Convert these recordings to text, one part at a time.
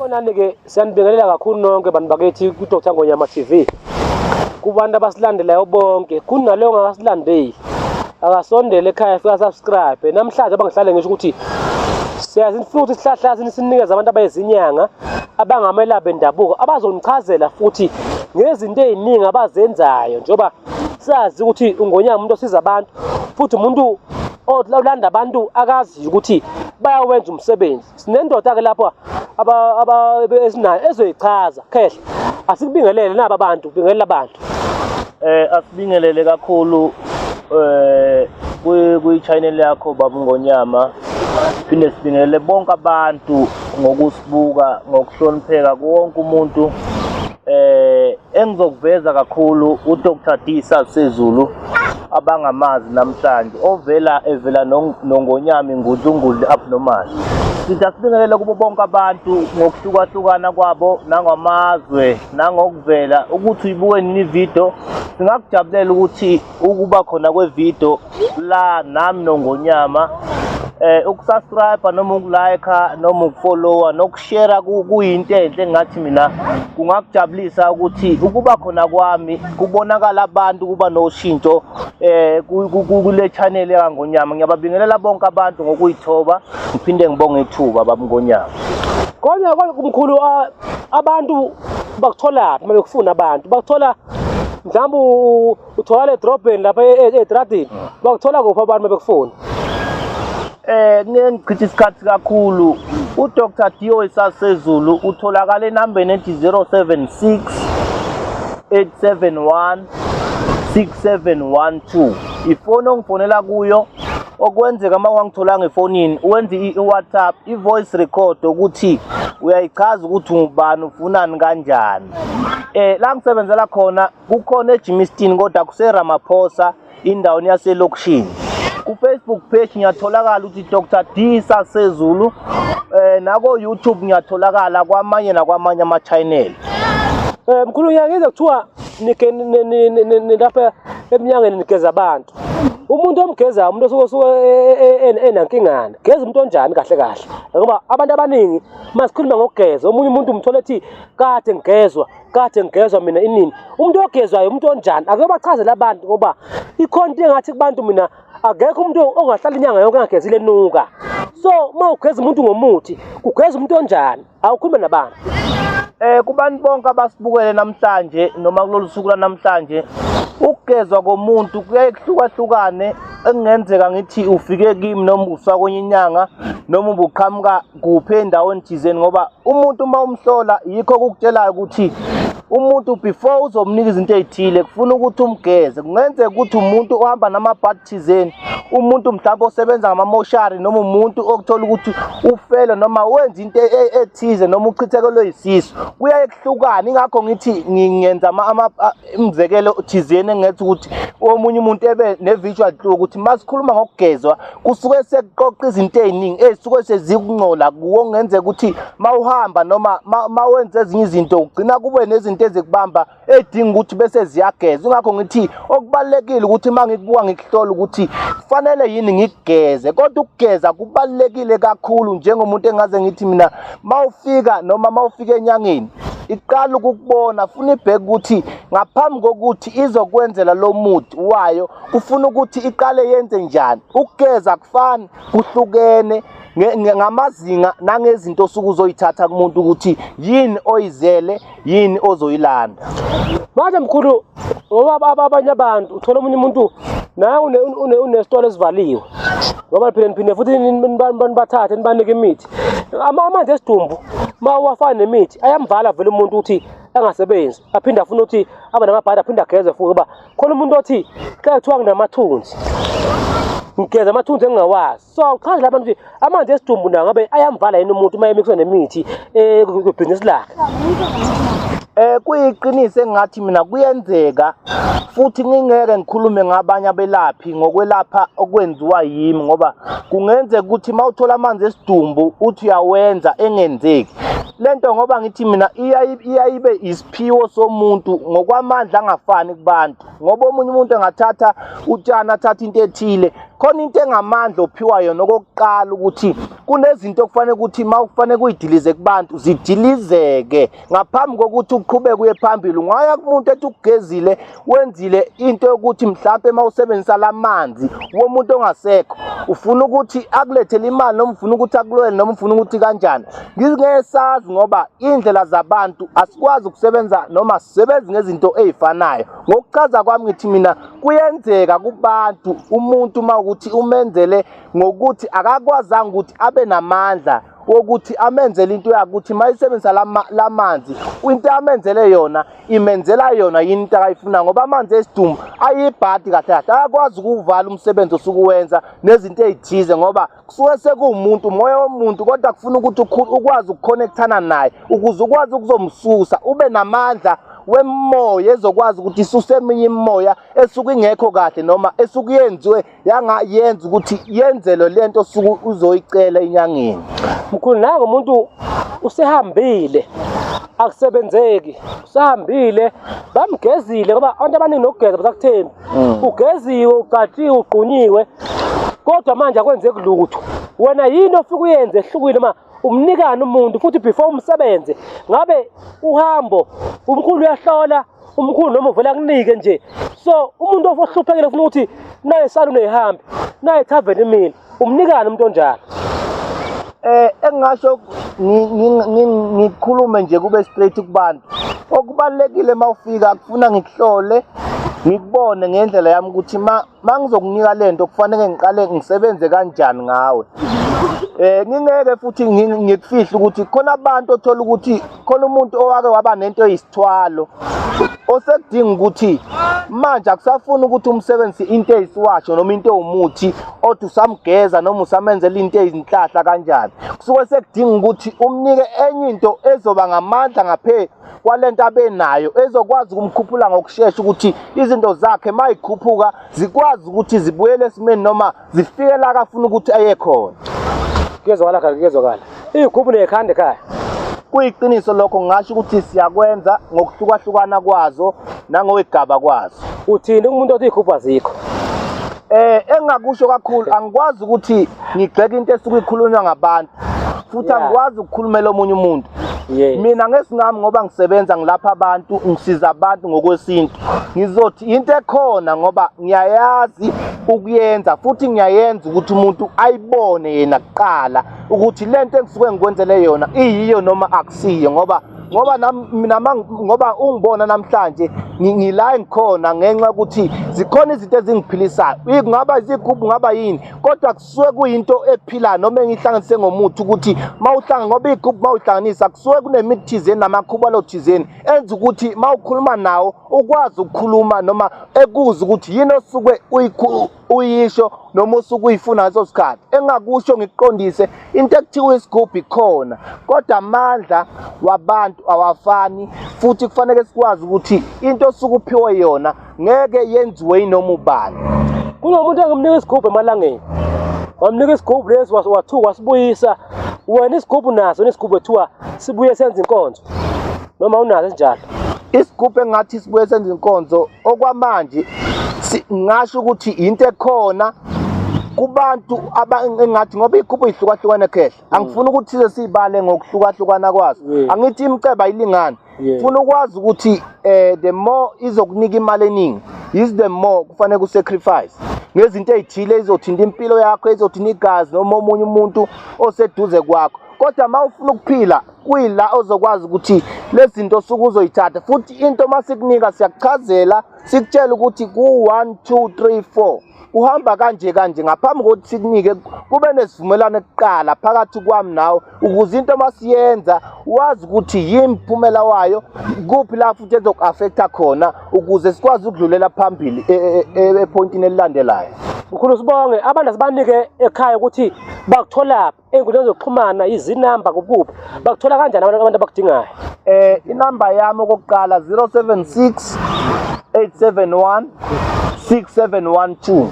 Sanibonani-ke, siyanibingelela kakhulu nonke bantu bakithi kuDr Ngonyama TV. Kubantu abasilandelayo bonke, kunaleyo ongakasilandeli akasondele ekhaya fika subscribe. Namhlanje abangihlale ngisho ukuthi siyazi futhi sihlahla sinikeza abantu abayizinyanga abangamelaphi bendabuko abazonichazela futhi ngezinto eziningi abazenzayo njengoba sazi ukuthi ungonyama umuntu osiza abantu futhi umuntu olanda abantu akaziyo ukuthi bayawenza umsebenzi sinendoda ke lapho esinayo ezoyichaza khehle asikubingelele naba bantu bingelela abantu eh asibingelele kakhulu eh kuyi-channel yakho baba ngonyama phinde sibingelele bonke abantu ngokusi Buka ngokuhlonipheka kuwonke umuntu eh engizokuveza kakhulu uDr Disa Sezulu abangamazi namhlanje ovela evela nongonyami ngudlungudli abnormal sithi asibingelele kubo bonke abantu ngokuhlukahlukana kwabo nangamazwe nangokuvela ukuthi uyibuke nini ividiyo singakujabulela ukuthi ukuba khona kwevideo la nami nongonyama eh ukusubscribe noma ukulike noma ukufollowa nokushare kuyinto enhle ngathi mina kungakujabulisa ukuthi ukuba khona kwami kubonakala abantu kuba noshintsho eh kule channel yangonyama ngiyababingelela bonke abantu ngokuyithoba ngiphinde ngibonge ithuba babngonyama kodwa kodwa kumkhulu ah, abantu bakuthola uma bekufuna abantu bakuthola mhlawumbe u- utholakala edrobheni lapha e- e- edradini Ah. bakuthola kuphi abantu bebekufuna Eh ngeke ngichithe isikhathi kakhulu. UDr Dio esasezulu utholakala enambeni ethi 076 871 6712. Ifoni ongifonela kuyo okwenzeka uma wangitholanga efonini wenza i- i-WhatsApp i-voice record ukuthi uyayichaza ukuthi ungubani ufunani kanjani. Eh la ngisebenzela khona kukhona eJimistin kodwa kuseRamaphosa indaweni yaselokishini. KuFacebook page ngiyatholakala ukuthi Dr D Sasezulu eh nako YouTube ngiyatholakala kwamanye nakwamanye ama channel. Eh mkhulu ngiyangizwe kuthiwa nike nilapha emnyangeni nigeza abantu. Umuntu omgezayo umuntu osuke osuke e, e, e, enankingana. Geza umuntu onjani kahle kahle. Ngoba abantu abaningi masikhuluma ngokugeza omunye umuntu umthola ethi kade ngigezwa kade ngigezwa mina inini umuntu ogezwayo umuntu onjani ake bachazele abantu ngoba ikhona into engathi kubantu mina akekho umuntu ongahlala inyanga yonke angagezile nuka so uma ugeza umuntu ngomuthi kugeza umuntu onjani awukhulume nabantu eh kubantu bonke abasibukele namhlanje noma kulolu suku lanamhlanje ukugezwa komuntu kuyaye kuhlukahlukane ekungenzeka ngithi ufike kimi noma usakwenye inyanga noma ubuqhamuka kuphi endaweni thizeni ngoba umuntu uma umhlola yikho kukutshelayo ukuthi umuntu before uzomnika izinto ezithile kufuna ukuthi umgeze kungenzeka ukuthi umuntu ohamba namabhadi thizeni umuntu mhlawumbe osebenza ngamamoshari noma umuntu okuthola ukuthi ufele noma wenza into e, e, ethize noma uchithekelwe yisisu kuyaye kuhlukane ingakho ngithi ngingenza umzekelo thizeni engetha ukuthi omunye umuntu ebe ne-visual clue ukuthi uma sikhuluma ngokugezwa kusuke sekuqoqa izinto eziningi ezisuke sezikuncola kuwo kungenzeka ukuthi mawuhamba noma mawenza ezinye izinto ugcina kube nezinto ezikubamba edinga ukuthi bese ziyageza ingakho ngithi okubalekile ukuthi mangikubuka ngikuhlola ukuthi kufanele yini ngigeze kodwa ukugeza kubalekile kakhulu njengomuntu engaze ngithi mina mawufika noma mawufika enyangeni iqala ukukubona funa ibheke ukuthi ngaphambi kokuthi izokwenzela lo muthi wayo ufuna ukuthi iqale yenze njani ukugeza kufani kuhlukene ngamazinga nangezinto osuke uzoyithatha kumuntu ukuthi yini oyizele yini ozoyilanda manje mkhulu ngoba abanye abantu uthola omunye umuntu naye unesitolo esivaliwe ngoba phela niphinde futhi nibathathe nibanike imithi amanzi esidumbu uma uwafana nemithi ayamvala vele umuntu ukuthi angasebenzi aphinde afune ukuthi abe namabhadi aphinde ageze futhi uba khona umuntu othi xa kuthiwa nginamathunzi ngigeza amathunzi engingawazi so uchaze la bantu ukuthi amanzi esidumbu nawo ngabe ayamvala yini umuntu uma emixwe nemithi eh, kwibhizinisi lakhe eh kuyiqiniso engathi mina kuyenzeka futhi ngingeke ngikhulume ngabanye abelaphi ngokwelapha okwenziwa yimi ngoba kungenzeka ukuthi mawuthola amanzi esidumbu uthi uyawenza engenzeki lento ngoba ngithi mina iyayibe isiphiwo somuntu ngokwamandla angafani kubantu ngoba omunye umuntu engathatha utshani athathe into ethile khona into engamandla ophiwa yona okokuqala ukuthi kunezinto okufanele ukuthi uma kufanele kuyidilize kubantu zidilizeke ngaphambi kokuthi uqhubeke uye phambili ungaya kumuntu ethi ukugezile wenzile into yokuthi mhlawumbe uma usebenzisa la manzi womuntu ongasekho ufuna ukuthi akulethele imali noma ufuna ukuthi akulwele noma ufuna ukuthi kanjani ngizingeke sazi ngoba iy'ndlela zabantu asikwazi ukusebenza noma sisebenzi ngezinto ey'fanayo ngokuchaza kwami ngithi mina kuyenzeka kubantu umuntu uma ukuthi umenzele ngokuthi akakwazanga ukuthi abe namandla wokuthi amenzele into yakuthi mayisebenzisa lamanzi into amenzele yona imenzela yona yini into akayifuna ngoba amanzi esidumbu ayibhadi kahle kahle ayakwazi ukuwuvala umsebenzi osukuwenza nezinto ezithize ngoba kusuke sekuwumuntu umoya womuntu kodwa kufuna ukuthi ukwazi ukukhonekthana naye ukuze ukwazi ukuzomsusa ube namandla wemoya ezokwazi ukuthi isuse eminye imimoya esuke ingekho kahle noma esuke yenziwe yanga yenza ukuthi yenzelwe lento osuke uzoyicela enyangeni mkhulu nako umuntu usehambile akusebenzeki usahambile bamgezile ngoba abantu abaningi nokugeza basakuthembi mm. ugeziwe ucatshiwe ugqunyiwe kodwa manje akwenzeki lutho wena yini ofika uyenze ehlukile uma umnikani umuntu futhi before umsebenze ngabe uhambo umkhulu uyahlola umkhulu noma uvela kunike nje so umuntu ohluphekile ufuna ukuthi naye salune ihambe naye tavern imile umnikani umuntu onjalo eh engasho ngikhulume nje kube straight kubantu okubalekile mawufika akufuna ngikuhlole ngikubone ngendlela yami ukuthi ma uma ngizokunika le nto kufanele ngiqale ngisebenze kanjani ngawe eh ngingeke futhi ngikufihle ukuthi khona abantu othola ukuthi khona umuntu owake waba nento eyisithwalo osekudinga ukuthi manje akusafuni ukuthi umsebenzi into eyisiwasho noma into ewumuthi othi usamgeza noma usamenzela into eyizinhlahla kanjani kusuke sekudinga ukuthi umnike enye into ezoba ngamandla ngaphe kwalento abenayo ezokwazi ukumkhuphula ngokushesha ukuthi izinto zakhe mayikhuphuka zikwazi ukuthi zibuyele esimeni noma zifike la kafuna ukuthi aye khona kuyezwakala kaka kuyezwakala iyikhuphu nekhanda ekhaya kuyiqiniso lokho ngasho ukuthi siyakwenza ngokuhlukahlukana kwazo nangowegaba kwazo uthini umuntu othi iyikhuphu azikho eh engakusho kakhulu angikwazi ukuthi ngigxeke into esuke ikhulunywa ngabantu futhi angikwazi ukukhulumela omunye umuntu mina ngesingami ngoba ngisebenza ngilapha abantu ngisiza abantu ngokwesintu ngizothi into ekhona ngoba ngiyayazi ukuyenza futhi ngiyayenza ukuthi umuntu ayibone yena kuqala ukuthi le nto engisuke ngikwenzele yona iyiyo noma akusiyo ngoba ngoba mina ngoba ungibona namhlanje ngila engikhona ngenxa ukuthi zikhona izinto ezingiphilisayo kungaba izigubhu ngaba yini kodwa kusuke kuyinto ephilayo noma engihlanganise ngomuthi ukuthi mawuhlanga ngoba igroup mawuhlanganisa kusuke kunemithi thizeni namakhubalo thizeni enza ukuthi mawukhuluma nawo ukwazi ukukhuluma noma ekuza ukuthi yini osuke uyisho noma usuke uyifuna ngaso sikhathi engakusho ngikuqondise into ekuthiwa isigubhu ikhona kodwa amandla wabantu awafani futhi kufanele sikwazi ukuthi into osuke uphiwe yona ngeke yenziwe yinoma ubani kunomuntu engimnika isigubhu emalangeni wamnika isigubhu lesi wathuka wasibuyisa wena isigubhu naso nesigubhu ethiwa sibuye senza inkonzo noma unazo esinjalo isigubhu engathi sibuye senza inkonzo okwamanje ngasho ukuthi yinto ekhona kubantu engathi ngoba iy'gubhu yihlukahlukene khehla angifuni ukuthi size siyibale ngokuhlukahlukana kwazo angithi imceba ayilingani funa ukwazi ukuthi eh the more izokunika imali eningi is the more kufanele ku sacrifice ngezinto ezithile izothinta impilo yakho izothinta igazi noma omunye umuntu oseduze kwakho kodwa uma ufuna ukuphila kuyila ozokwazi ukuthi lezi zinto suke uzoyithatha futhi into uma sikunika siyakuchazela sikutshela ukuthi ku-one two three four kuhamba kanje kanje ngaphambi kokuthi sikunike kube nesivumelwano kuqala phakathi kwami nawe ukuze into masiyenza wazi ukuthi yini phumela wayo kuphi la futhi ezoku-affecta khona ukuze sikwazi ukudlulela phambili e, e, e, ephoyintini elilandelayo mkhulu sibonge abantu asibanike ekhaya ukuthi bakutholaphi ey'nkundleni zokuxhumana izinamba kupuphi bakuthola kanjani abantu abantu abakudingayo eh inamba yami okokuqala 076 871 6712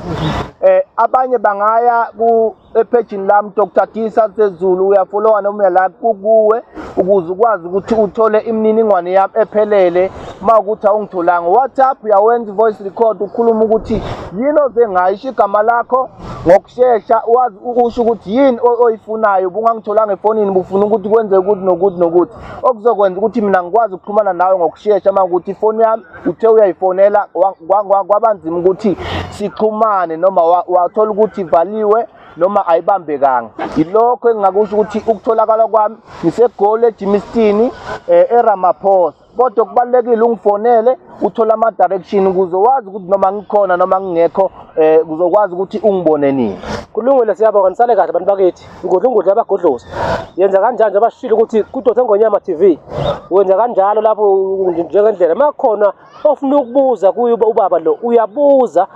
eh abanye bangaya ku ephejini lami Dr Tisa Sezulu uyafollowa noma uyala kukuwe ukuze ukwazi ukuthi uthole imininingwane yami ephelele uma ukuthi awungitholanga WhatsApp uyawenza voice record ukhuluma ukuthi yini oze ngayo isho igama lakho ngokushesha wazi ukusho ukuthi yini oyifunayo ubungangitholanga efonini bufuna ukuthi kwenze ukuthi nokuthi nokuthi okuzokwenza ukuthi mina ngikwazi ukuxhumana nawe ngokushesha uma ukuthi ifoni yami uthe uyayifonela kwaba nzima ukuthi sixhumane noma wathola ukuthi ivaliwe noma ayibambekanga yilokho engingakusho ukuthi ukutholakala kwami ngisegoli ejimistini um eh, eramaphosa kodwa kubalulekile ungifonele uthole ama-direction ukuze wazi ukuthi noma ngikhona noma ngingekho um kuzokwazi ukuthi ungibone nini kulungile siyabonga nisale kahle abantu bakithi ngudla ungudla abagodlozi yenza kanjani njengoba shilo ukuthi kudose ngonyama tv wenza kanjalo lapho njengendlela uma khona ofuna ukubuza kuye ubaba lo uyabuza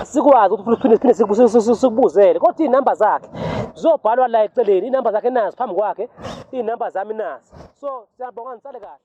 sikwazi ukuthi siphinde sikubuzele kodwa iy'namba zakhe zizobhalwa la eceleni iy'namba zakhe nazo phambi kwakhe iy'namba zami nazi so siyabonga nisale kahle